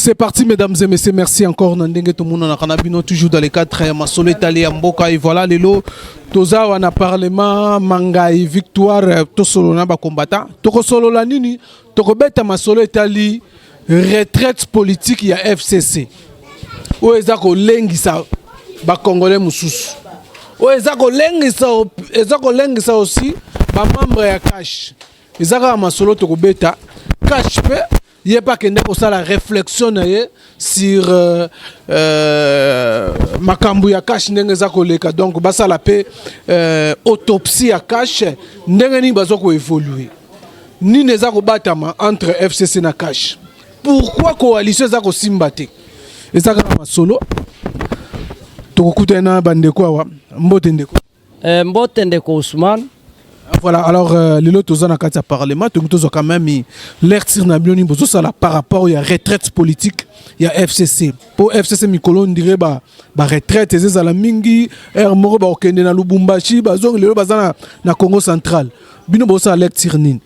C'est parti, mesdames et messieurs. Merci encore. Nandenge tout le monde a canabino toujours dans les cadres. très masolo étalé en boca et voilà les lots. Toza wana parlement mangai victoire euh, to solo na ba combattant. Toko solo la nini Tokobeta masolo etali retraite politique ya FCC oyo eza kolengisa bakongole mosusu oyo eza kolengisa eza kolengisa aussi bamembre ya cash eza kaka masolo tokobeta cash mpe ye mpe akenda kosala réflexion na ye sur euh, euh, makambo ya cash ndenge eza koleka donc basala mpe euh, autopsie ya cash ndenge nini baza koévolue nini eza kobatama entre fcc na cash pourquoi coalition eza kosimba te eza kaka masolo tokokutana na bandeko awa mbote ndeko Eh, mbote ndeko Ousmane. Ah, voilà, alors euh, lelo toza na kati ya parlement tokoki tozwa quand même l'air tir na bino nini bozosala par rapport ya retraite politique ya fcc mpo fcc mikolo ndire ba, ba retraite ezezala mingi aire moko bakokende na lubumbashi bazongi lelo baza na, na congo central bino bozosala l'air tir nini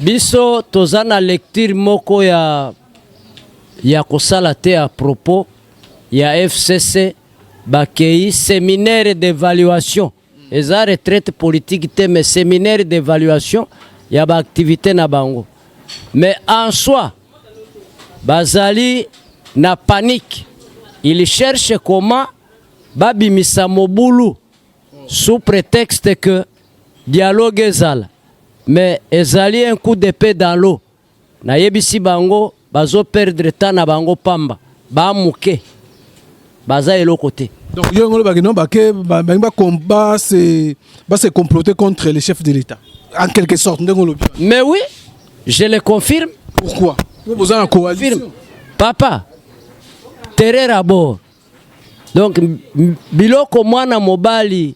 biso toza na lecture moko ya, ya kosala te ya propos ya fcc Bakei seminaire d'evaluation eza retraite politique te mais seminaire d'evaluation ya ba activité na bango mais en soi bazali na panique il cherche comment babimisa mobulu sous prétexte que dialogue ezala mais ezali un coup d'épée dans l'eau Nayebisi bango bazo perdre temps na bango pamba ba muke baza eloko te. Donc yo ngolo ba non ba ke ba ba combat c'est ba se comploter contre les chefs de l'État en quelque sorte ndengolo. Mais oui, je le confirme. Pourquoi? Vous vous en coalition. Papa, terre à bord. Donc biloko mwana mobali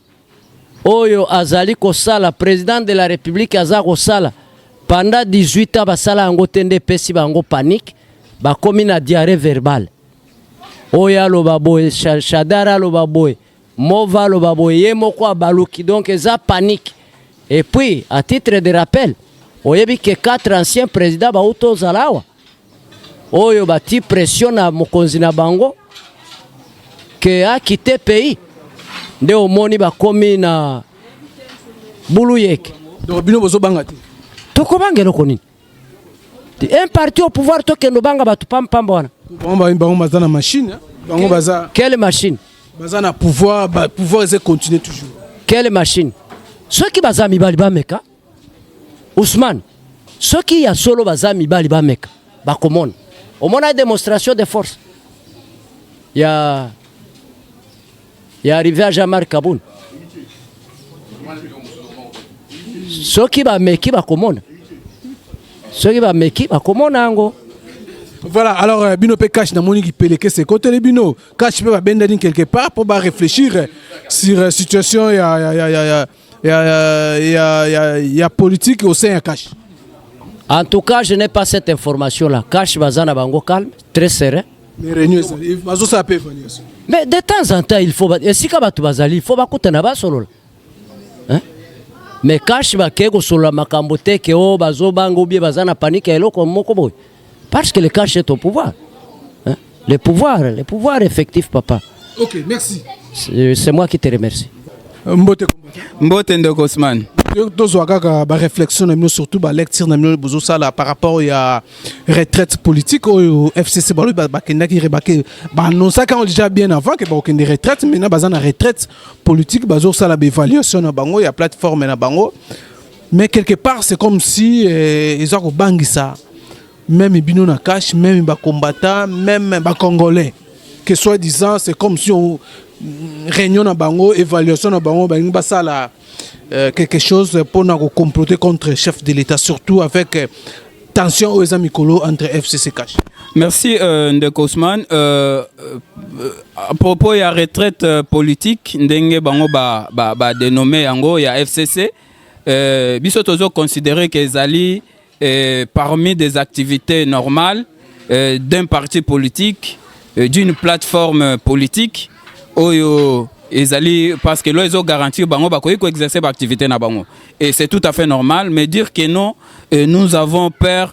oyo azali kosala president de la republique aza kosala pendant 18 ans basala yango te nde epesi bango panique bakomi na diarrhée verbale oyo aloba boye shadar aloba boye mova aloba boye ye moko abaluki donc eza panique et puis à titre de rappel oyebi ke 4 ancien président bauta ozala awa oyo bati pression na mokonzi na bango ke akite pays nde omoni bakomi na buluyeke donc bino bozobanga te tokobanga eloko nini un parti au pouvoir tokende obanga bato pampamba wana bango baza na machine hein? bango baza quelle machine baza na pouvoir pouvoir eze continue toujours quelle machine soki baza mibali bameka Ousmane, soki ya solo baza mibali bameka bakomona. Omona demonstration de force ya ya arrivé ya Jean-Marc Kabund. Soki bameki bakomona, soki bameki bakomona yango. Voilà, alors euh, bino pe cash na moni kipeleke se kote le bino cash pe ba benda quelque part pour ba réfléchir sur euh, situation ya ya ya ya ya, ya, ya, ya, ya politique au sein ya cash en tout cas je n'ai pas cette information là cash baza na bango calme très serein mais réunion bazo sa pe évaluation mais de temps en temps il faut esika bato bazali il faut bakutana basolola hein? mais cash bakei kosolola makambo te ke o oh, bazobanga obie baza na panike ya eloko moko boye Parce que le cash est au pouvoir. Hein? Le pouvoir, le pouvoir effectif, papa. Ok, merci. C'est moi qui te remercie. Euh, mbote mbote ndeko osman tozwa kaka baréflexion na bino surtout balecture na bino bozosala par rapport ya retraite politique oyo fcc balobi bakendaki rebake baannonsaki yango déjà bien avant ke bakokende retraite maintenant baza na retraite politique bazosala baévaluation na bango ya plateforme na bango mais quelque part c'est comme si eh, eza kobangisa même bino na cash même bacombattants même bacongolais que soit disant c'est comme si on, mm, réunion na bango évaluation na bango balingi basala euh, quelque chose mpona kocomploter contre chef de l'état surtout avec euh, tension oyo eza mikolo entre fcc cash Merci euh, Ndeko Ousmane. Euh, euh, à propos ya retraite euh, politique ndenge bango ba ba, ba dénommé yango ya FCC Euh, biso tozo considérer que ezali euh, parmi des activités normales euh, d'un parti politique, euh, d'une plateforme politique oyo ezali parce que lo ezo garantir bango bakoki ko exercer ba activités na bango et c'est tout à fait normal mais dire que non euh, nous avons peur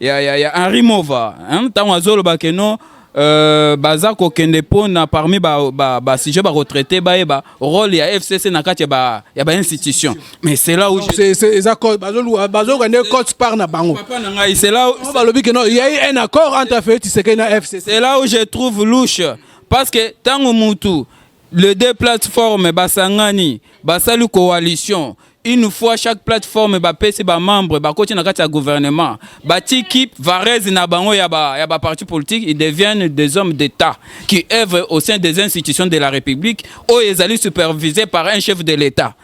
ya, ya, ya Henri Mova ntango azoloba ke no euh, baza kokende mpo na parmi basujet ba, ba, ba bakotraite bayeba role ya fcc na kati ya bainstitution mais cela bazoyoka nde cote part na bango balobi ke no yai un accord entre feu tisekei na fcc c'est là où je trouve louche parce que ntango mutu Les deux plateformes basangani basali coalition une fois chaque plateforme bapesi bamembre bakoti na kati ya gouvernement batiki varese na bango ya baparti ba politique ils deviennent des hommes d'état qui œuvrent au sein des institutions de la république oyo ezali supervisé par un chef de l'état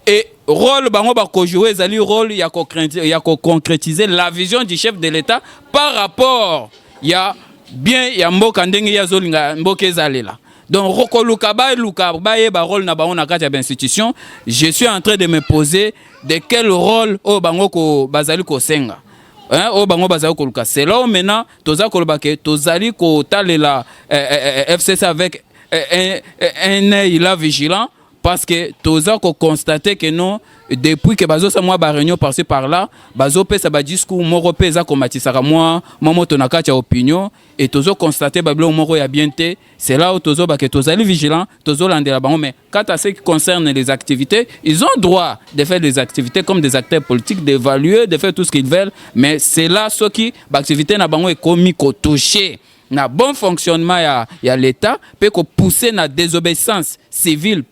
et rôle bango bakojoue ezali rôle ya koconcrétiser la vision du chef de l'état par rapport ya bien ya mboka ndenge ye azolinga mboka ezalela Donc Rokoluka Baluka baye ba rôle na bango na kati ya institution, je suis en train de me poser de quel rôle oyo bango ko bazali kosenga. Hein, oyo bango bazali koluka. C'est là maintenant toza koloba ke tozali kotalela eh, eh, eh, eh FCC avec eh, eh, eh, un œil là vigilant parce que toza ko constater que non depuis que bazo sa mwa ba réunion par ci par là bazo pesa ba discours moko pe eza komatisaka mwa mwa moto na kati ya opinion et tozo constater ba biloko moko ya bien te c'est là où tozo ba que tozali vigilant tozo landela bango mais quant à ce qui concerne les activités ils ont droit de faire des activités comme des acteurs politiques d'évaluer de faire tout ce qu'ils veulent mais c'est là ceux qui ba activité na bango ekomi ko toucher na bon fonctionnement ya, ya l'État pe ko pousser na désobéissance civile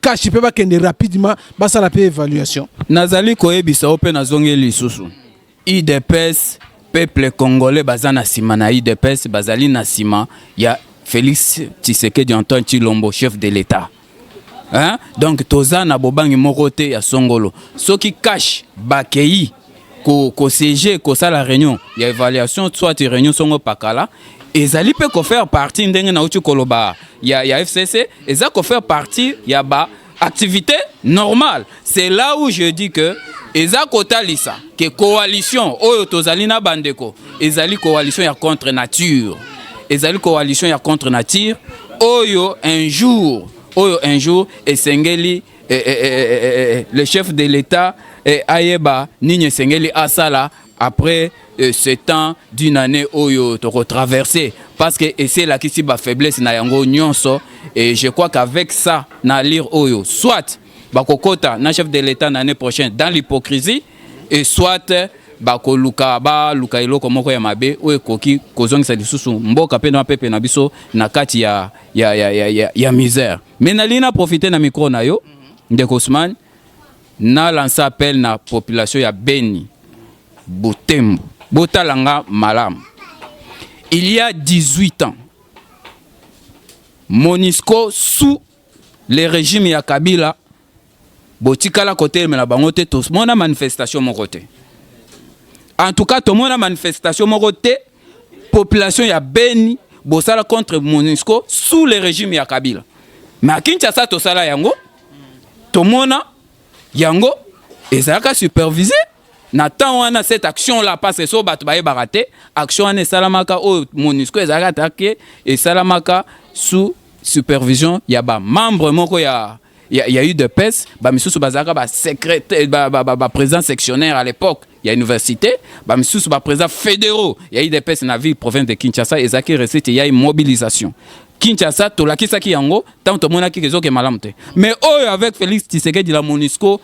kashi mpe bakende rapidement basala mpe évaluation nazali koyebisa yo mpe nazongeli lisusu idps peuple congolais baza na nsima na idps bazali na nsima ya félix tshisekedi antoine tshilombo chef de l'état hein? donc toza na bobangi moko te ya songolo soki kashi bakei ko ko siège ko sala réunion ya évaluation soit réunion songo pakala ezali pe ko faire partie ndenge na uti koloba ya ya FCC eza ko faire partie ya ba activité normale c'est là où je dis que eza kotalisa ke coalition oyo tozali na bandeko ezali coalition ya contre nature ezali coalition ya contre nature oyo un jour oyo un jour esengeli eh, eh, eh, le chef de l'État eh, ayeba nini esengeli asala après euh, ce temps d'une année oyo toko traverser parce que ese elakisi ba faiblesse na yango nyonso et je crois qu'avec ça na lire oyo soit bakokota na chef de l'État na année prochaine dans l'hypocrisie et soit euh, bakoluka baluka eloko moko ya mabe oyo ekoki kozongisa lisusu mboka mpe na pepe na biso na kati ya, ya, ya, ya, ya, ya misère Mais nalingi na profiter na micro na yo ndeko Ousmane na lancer appel na population ya Beni Butembo botala nga malamu il y a 18 ans Monisco sous le régime ya Kabila botikala kotelemela bango te tomona manifestation moko te en tout cas tomona manifestation moko te population ya beni bosala contre monusco sous le régime ya kabila mais à kinshasa tosala yango tomona yango ezalaka supervise na temps wana cette action là parce so bato bayebaka te action wana esalamaka oyo monusco ezalaka take esalamaka sous supervision ya bamembre moko ya Il y, a eu des pèses, bah, misusu bazaka ba secrétaire, ba, ba, ba, ba président sectionnaire à l'époque, il y a université, bah, misusu ba président fédéraux, il y a eu des pèses na ville province de Kinshasa, et zaki recette, il y a eu mobilisation. Kinshasa, tolakisaki yango, tant tomonaki kezoke malamte. Mais oh, avec Félix Tshisekedi la Monisco,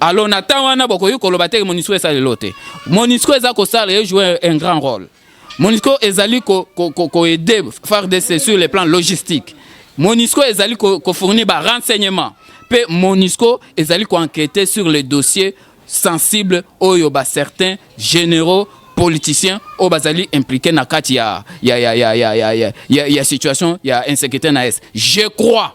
Alors na temps wana bokoki koloba te Monisco esala lelo te. Monisco eza kosala ye jouer un grand rôle. Monisco ezali ko, ko, ko, ko aider FARDC sur le plan logistique. Monisco ezali ko, ko fournir ba renseignements. Pe Monisco ezali ko enquêter sur les dossiers sensibles oyo ba certains généraux politiciens oyo bazali impliqués na kati ya ya ya ya ya ya ya, ya, ya situation ya insécurité na est. Je crois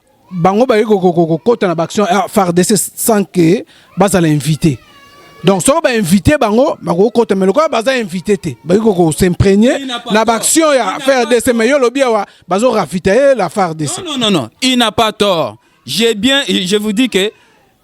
bango baye kokota na baaction ya fardc sans que bazala invité donc soki bainvite bango bakokota me lokola baza invité te bakoki kokosimprenie na baaction ya fardc me yo olobi awa bazorafita ye la fardc non, non, non. il n'a pas tort j'ai bien je vous dis que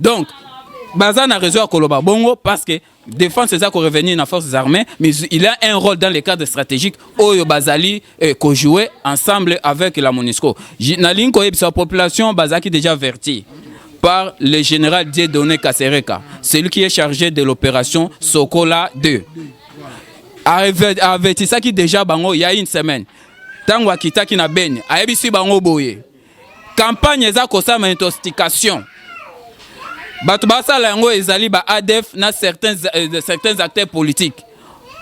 donc baza na raison ya koloba bongo parce que défense eza ko revenir na forces armées mais il a un rôle dans le cadre stratégique oyo bazali eh, ko jouer ensemble avec la MONUSCO nalingi koyebisa population bazalaki déjà verti par le général Dieudonné Kasereka celui qui est chargé de l'opération Sokola 2 avertisaki déjà bango il y a une semaine ntango akitaki na Beni ayebisi bango boye campagne eza kosala intoxication bato basala yango ezali ba adf na certains, euh, certains acteurs politiques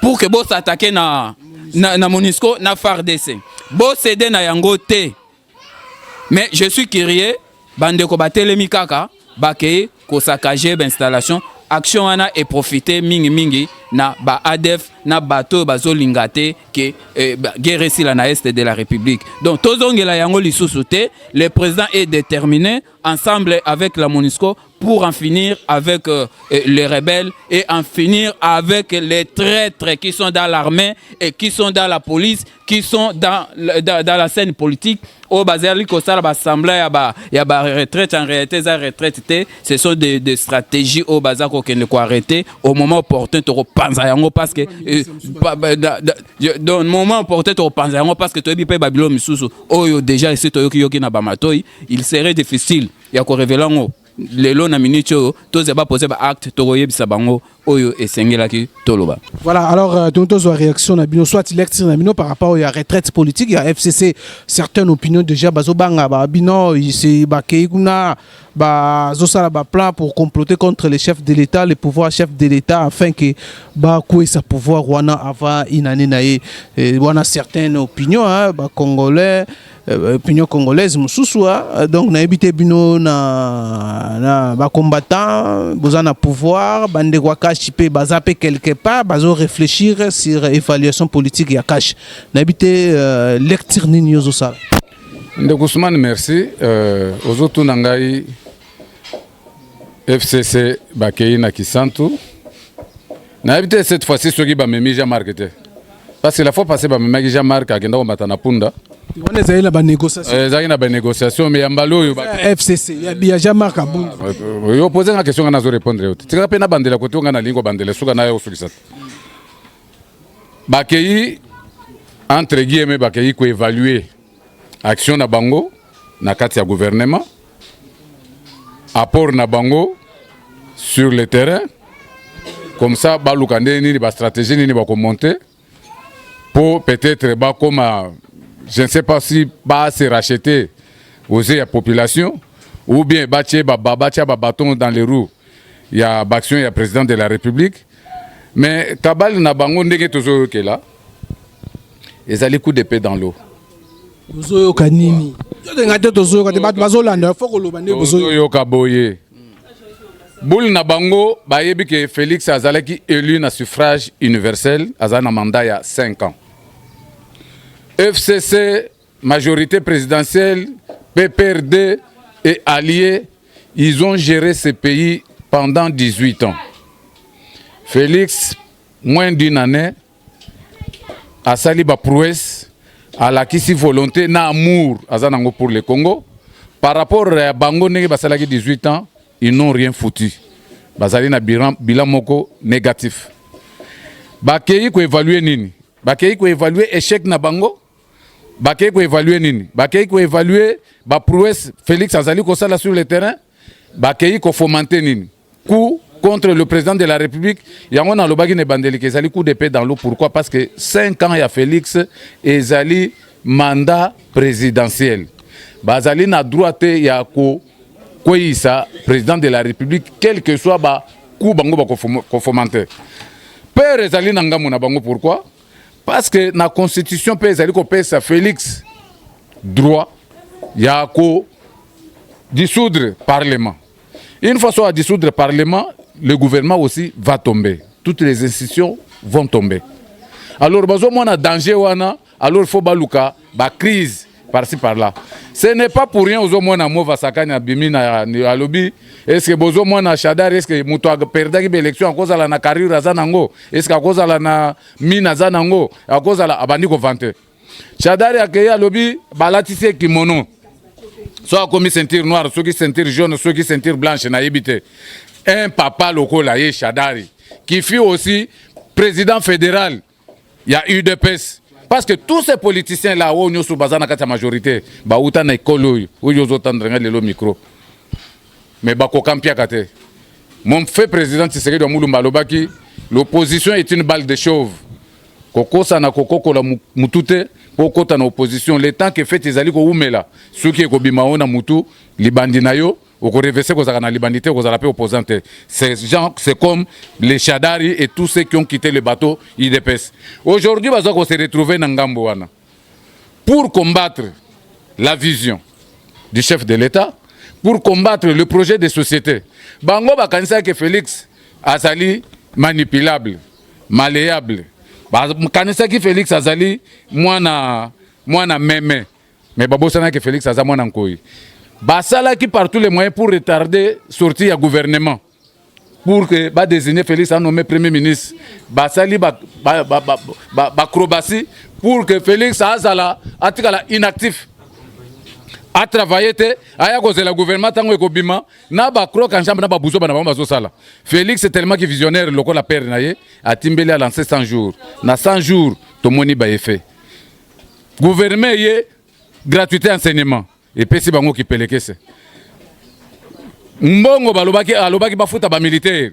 pour que bosatake na, na, na monisco na fardc bosede na yango te mais je suis curieux bandeko batelemi kaka bakei ko saccager ba installation action wana e profiter mingi mingi na ba ADF na bato oyo bazolinga te ke eh, guerre esila na est de la république donc tozongela yango lisusu te le président est déterminé ensemble avec la monusco pour en finir avec euh, euh, les rebelles et en finir avec les traîtres qui sont dans l'armée et qui sont dans la police qui sont dans, dans, dans la scène politique oyo bazali kosala basembla ya ba, ya ba retraite en réalité eza retraite te ce sont des de stratégie oyo baza kokende koarrete au moment opportun tokopanza yango parce que euh, pa, ba, da, da, donc moment opportun tokopanza yango parce que toyebi mpe babilo misusu oyo déjà esi toyokiyoki na bamatoi il serait difficile ya korevela yango lelo na minute oyo toza ba poser ba acte tokoyebisa bango oyo esengelaki toloba voilà alors euh, donc tozwa réaction na bino soit lecture na bino par rapport ya retraite politique ya fcc certaines opinions déjà bazobanga ba bino bakei kuna bazosala baplan pour comploter contre les chefs de l'état le pouvoir chef de l'état afin que bakwesa pouvoir wana avant inane na ye wana certaines opinions hein, bacongolais Euh, opinion congolaise mosusu hein. euh, donc nayebi te bino na, na bacombattant boza na pouvoir bandeko ya kashi mpe baza mpe quelque part bazo réfléchir sur évaluation politique ya kashi nayebi te euh, lecture nini yo ozosala ndeko ousmane merci euh, ozotuna ngai FCC bakei na Kisantu. Nayebi te cette fois-ci soki bamemi Jean-Marc te. Parce que la fois passée bamemaki Jean-Marc akenda komata na punda. wana ezali na banégociation Eh, Ezalaki na banégociation mais ya mbala oyo ba- ya fcc ya biya jean marc abungi Euh, yo pose nga question nga nazo répondre yo te tika mpe nabandela kote oyo nga nalingi kobandela suka nayo kosukisa te bakei entre guillemets bakei koévalue action na bango na kati ya gouvernement apport na bango sur le terrain comme ça baluka ndenge nini bastratégie nini bakomonte mpo peut-être bakoma je ne sais pas si base racheter aux ya population ou bien batye batya babaton dans les roues ya baaction ya président de la république mais kabale na bango ndenge tozoyokela ezali coup d'epée dans l'eau tozoyoka nini todenga te tozoyoka te bato bazolanda fo koloba nde bozoyoka boye boule na bango bayebi ke félix azalaki élu na suffrage universel azali na mandat ya 5 ans fcc majorité présidentielle pprd et alliés ils ont géré ce pays pendant 18 ans félix moins d'une année asali ba prouesse alakisi volonté na amour aza nango pour le Congo par rapport ya bango ndenge basalaki 18 ans ils n'ont rien foutu bazali na bilan, bilan moko négatif bakei koevalue nini bakei koevalue échec na bango bakei koevalue nini bakei koevalue baprouesse félix azali kosala sur le terrain bakei kofomante nini coup contre le président de la République. Yango na lobaki ne bandeli que ezali coup d'épée dans l'eau. Pourquoi? Parce que 5 ans ya Félix ezali mandat présidentiel. Bazali na droit te ya ko kweyisa président de la République quel que soit ba coup bango ba ko fomenter. Père ezali na ngambo na bango pourquoi? Parce que na constitution pe ezali ko pesa Félix droit ya ko dissoudre parlement. Une fois soit à dissoudre le Parlement, le gouvernement aussi va tomber. Toutes les institutions vont tomber. Alors, bazo mwana danger wana, alors il faut baluka ba crise par-ci par-là. Ce n'est pas pour rien ozo mwana mova sakani abimi na alobi est-ce que bozo mwana Shadar est-ce que mutu a perdaki ba élection akozala na carrière za nango est-ce que akozala na mine za nango akozala abandi ko vanter. Shadari akei alobi balatisi ye kimono so akomi ceinture noire soki ceinture jaune soki ceinture blanche nayebi te un papa lokola ye Shadari qui fut aussi président fédéral ya UDPS parce que tous ces politiciens là oyo nyonso baza na kati ya majorité bauta na ekolo oyo oyo ozotandre ngai lelo micro mais bakoka mpiaka te mon fait président Tshisekedi wa Mulumba alobaki l'opposition est une balle de chauve kokosa na kokokola mutu te mpo okota na opposition le temps que fete ezali kowumela soki ekobima yo na mutu libandi na yo okorevese kozalaka na libandi te okozala mpe opposant te c'est genre c'est comme les shadari et tous ceux qui ont quitté le bateau udps aujourd'hui baza ko se retrouver na ngambo wana pour combattre la vision du chef de l'État, pour combattre le projet de société. Bango bakanisaki Felix azali manipulable, malléable. Bakanisaki Felix azali mwana mwana meme, mais babosanaki Felix aza mwana nkoyi. Basalaki partout les moyens pour retarder sortie ya gouvernement. pour que ba désigner Félix a nommé premier ministre basali ba ba ba ba, ba, ba acrobatie pour que Félix azala atikala inactif a travailler te aya kozela gouvernement tango ekobima na ba croc en jambe na ba buzoba na bango bazosala Félix est tellement que visionnaire lokola père na ye atimbeli a lancer 100 jours na 100 jours tomoni ba effet gouvernement ye gratuité enseignement epesi bango kipelekese mbongo balobaki alobaki bafuta bamilitaire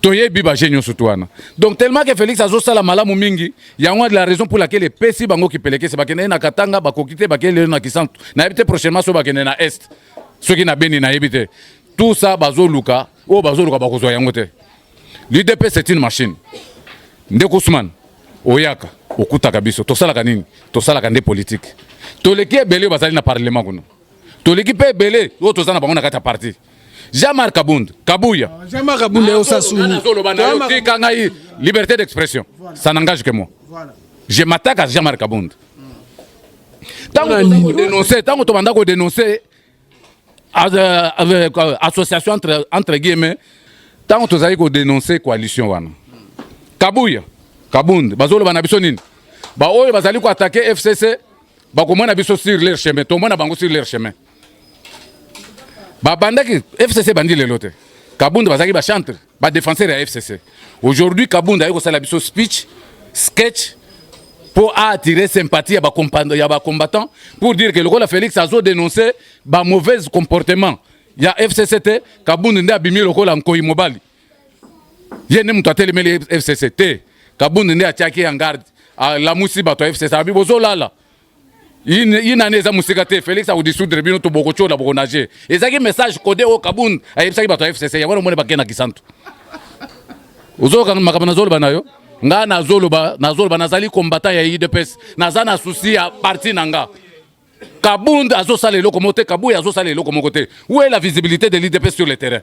toyebi baje nyonso tu wana donc tellement ke félix azosala malamu mingi yango wana la raison pour laquelle epesi bango kipelekese bakende ye na katanga bakoki te bakei lelo na kisantu nayebi te prochainement so bakende na est soki na beni nayebi te tout ça bazoluka oyo bazoluka bakozwa yango te L'UDP c'est une machine. Ndeko Ousmane, oyaka, okutaka biso. Tosalaka nini? Tosalaka nde politique. Toleki ebele oyo bazali na parlement kuna. Toleki mpe ebele oyo toza na bango na kati ya parti. Jean-Marc Kabund, Kabuya. Ah, Jean-Marc Kabund yo sasuni. Tika ngai liberté d'expression. Ça n'engage que moi. Voilà. Je m'attaque à Jean-Marc Kabund. Tango tobanda ko dénoncer, tango tobanda ko dénoncer association entre, entre guillemets ntango tozali kodenonse coalition wana kabuya kabund bazoloba na biso nini baoyo bazali koatake fcc bakomona biso sur leur chemin tomona bango sur leur chemin babandaki fcc ebandi lelo te kabund bazalaki bachantre ba defenseur ya fcc aujourd'hui kabunda aye kosala biso speech sketch pour attirer sympathie ya ba combattant pour dire que lokola félix azo dénoncer ba mauvais comportement ya fcc te kabunda nde abimi lokola nkoi mobali ye nde moto atelemeli fcc te kabunda nde atiaki en garde alamusi bato ya fcc abi bozolala une année eza mosika te Felix akodisoudre bino to bokotyola bokonage ezalaki message code oyo kabund ayebisaki bato ya fcc yango wana omoni bakei na kisantu ozoyoka makambo nazoloba na yo nga nazoloba nazoloba nazali combattant ya udps naza na souci ya parti na nga kabund azosala eloko moko te kabuya azosala eloko moko te où est la visibilité de l'udps sur le terrain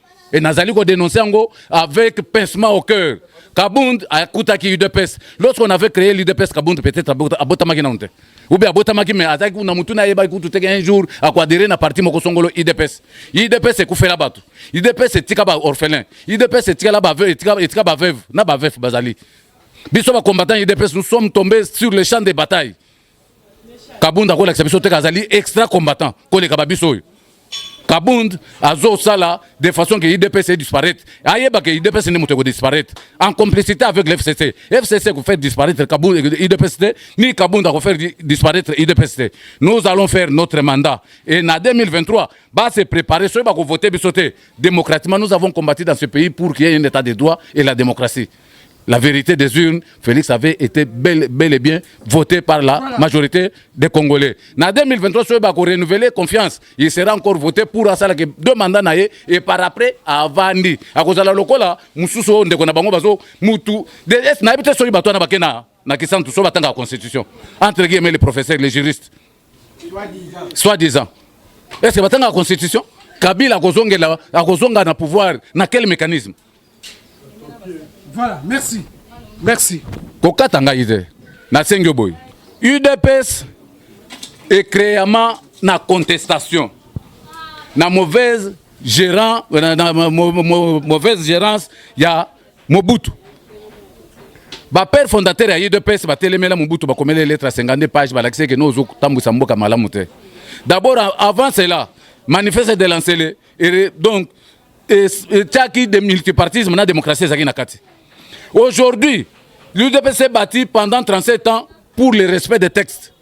Et Nazali ko dénoncer yango avec pincement au cœur. Kabund akutaki UDPS. Lorsqu'on avait créé l'UDPS, Kabund peut-être abotamaki naunte. Ou bien abotamaki mais azaki kuna mutu na yeba kutu teke un jour akuadere na parti moko songolo UDPS. UDPS ekufela batu. UDPS etika ba orphelin. UDPS etika la ba veuve, etika, etika ba veuve na ba veuf bazali. Biso ba combattants UDPS, nous sommes tombés sur le champ de bataille. kabund akolakisa biso teke azali extra combattant koleka babiso oyo kabund azosala de façon ke idps edisparaître ayeba ke idps nde moto ekodisparaître en complicité avec le fcc fcc ekofaire disparaître kabund idps te ni kabund akofaire disparaître idps te nous allons faire notre mandat et na 2023 base préparer soki bakovote biso te démocratiquement nous avons combattu dans ce pays pour qu'il y ait un état de droit et la démocratie la vérité des urnes, Félix avait été bel, bel et bien voté par la voilà. majorité des Congolais. En 2023, si vous renouveler confiance, il sera encore voté pour asala que deux mandats nae et par après avandi. À cause de la locola, mususu ndeko na bango bazo mutu. Des na bité soyi batwana bakena. na kisantu so batangaka constitution entre guillemets les professeurs les juristes soit disant est ce que batangaka constitution kabila akozongela akozonga na pouvoir na quel mécanisme voilà merci merci kokata ngai te nasengi yo boye udps ecreama na contestation na mauvaise gérant na, na, na, mauvaise gérance ya Mobutu ba père fondateur ya UDPS batelemela Mobutu bakomela lettre ya 52 page balakisi eke nozo kotambwisa mboka malamu te d'abord avant cela manifeste de lancele donc etyaki de multipartisme na démocratie ezalaki na kati aujourd'hui l'UDPS est bâti pendant 37 ans pour le respect des textes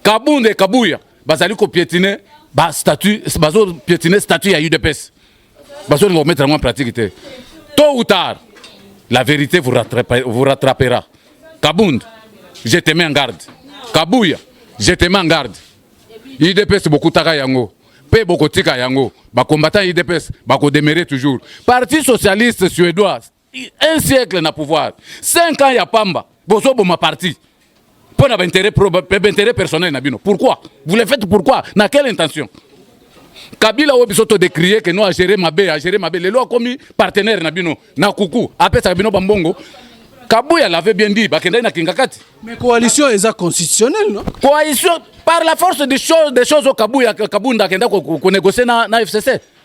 Kabund et Kabuya bazali ko piétiner ba statut bazo piétiner statut ya UDPS. Bazo linga mettre en pratique te. Tôt ou tard la vérité vous rattrapera, vous rattrapera. Kabund, je te mets en garde. Kabuya, je te mets en garde. UDPS bokutaka yango pe bokotika yango. Ba combattants UDPS bako demeurer toujours. Parti socialiste suédois un siècle na pouvoir 5 ans ya pamba bozoboma parti mpo na baintérêt baintérêt personnel na bino pourquoi vous le faites pourquoi na quelle intention kabila oyo biso todécrie ke no agere mabe agere mabe lelo akomi partenaire na bino na kuku apesaka bino bambongo kabuya l'avait bien dit bakendaki na kingakati mais coalition eza constitutionnelle non coalition par la force des choses des choses oyo kabuya kabunda akenda konégocier na, na fcc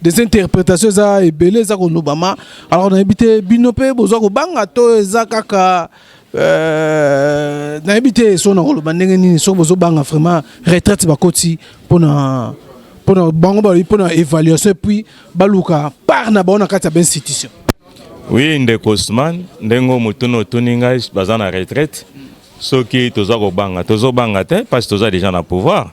des interprétations eza ebele eza kolobama alors nayebi te bino mpe boza kobanga to eza kaka euh, nayebi te so na koloba ndenge nini soki bozobanga vraiment retraite bakoti mpona mpona bango balobi mpona évaluation epuis baluka part na bango na kati ya bainstitution oui ndeko osman ndenge motuna otuni ngai baza na retraite soki toza kobanga tozobanga te mpasi toza deja na pouvoir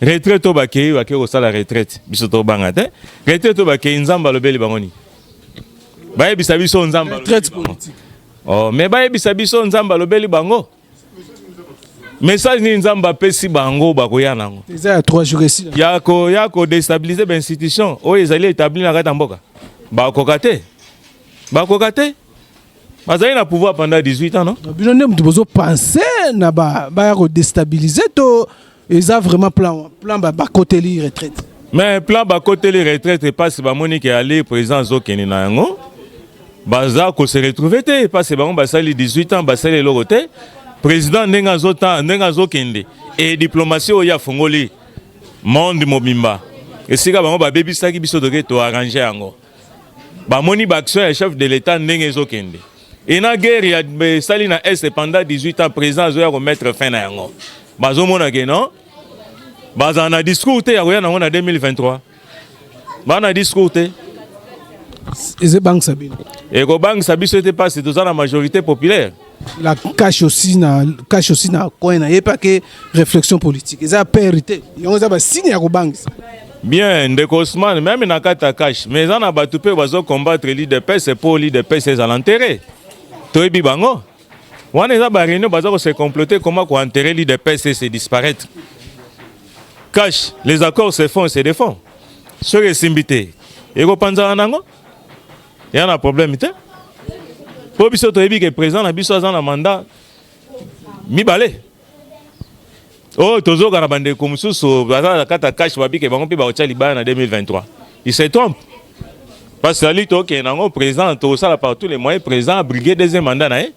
retraite to bakei bakei kosala retraite biso tobanga te retraite to bakei nzambe alobeli bango nini bayebisa biso nzambe oh, me bayebisa biso nzambe alobeli bango message nini nzambe apesi bango bakoya nango ya kodestabilize bainstitution oyo ezali etabli na kati ya mboka bakoka te bakoka te bazali na pouvoir pendant 18 ans non bino nde moto bozo pense na baya kodestabilize to eza vraiment plan plan bakoteli retraite mais plan bakoteli retraite epasi bamoni ke ali président azokende na yango baza kose retrouve te epasi bango basali 18 ans basali eloko te président ndenge azota ndenge azokende e diplomatie oyo afongoli monde mobimba esika bango babebisaki biso toke toarrange yango bamoni ba action ya chef de l'etat ndenge ezokende ena guerre ya esali na est pendant 18 ans président azoya komettre fin na yango bazomona ke non bazala na discours te ya koya nango na 2023 baa na discours te ezobangisa bino ekobangisa biso ete mpasi toza na majorité populaire la cache aussi na cache aussi na coin na ye pas que réflexion politique eza père te yango eza ba signe ya kobangisa bien ndeko Ousmane meme na kati ya cache mais eza na bato mpe bazo combattre l'IDPS mpo l'IDPS ezala enterre toyebi bango wana eza ba réunion baza kose comploter comment ko enterrer l'IDPS et se disparaître cache les accords se font et se défont soki esimbi te ekopanzana nango ya na problème te mpo biso toyebi ke président na biso aza na mandat mibale oyo oh, tozoka na bandeko mosusu baza na kati ya kashe babike bango mpe bakotya libaya na 2023 il se trompe parce que ali tokende yango président tokosala par tous les moyens président abrige deuxième mandat na ye eh?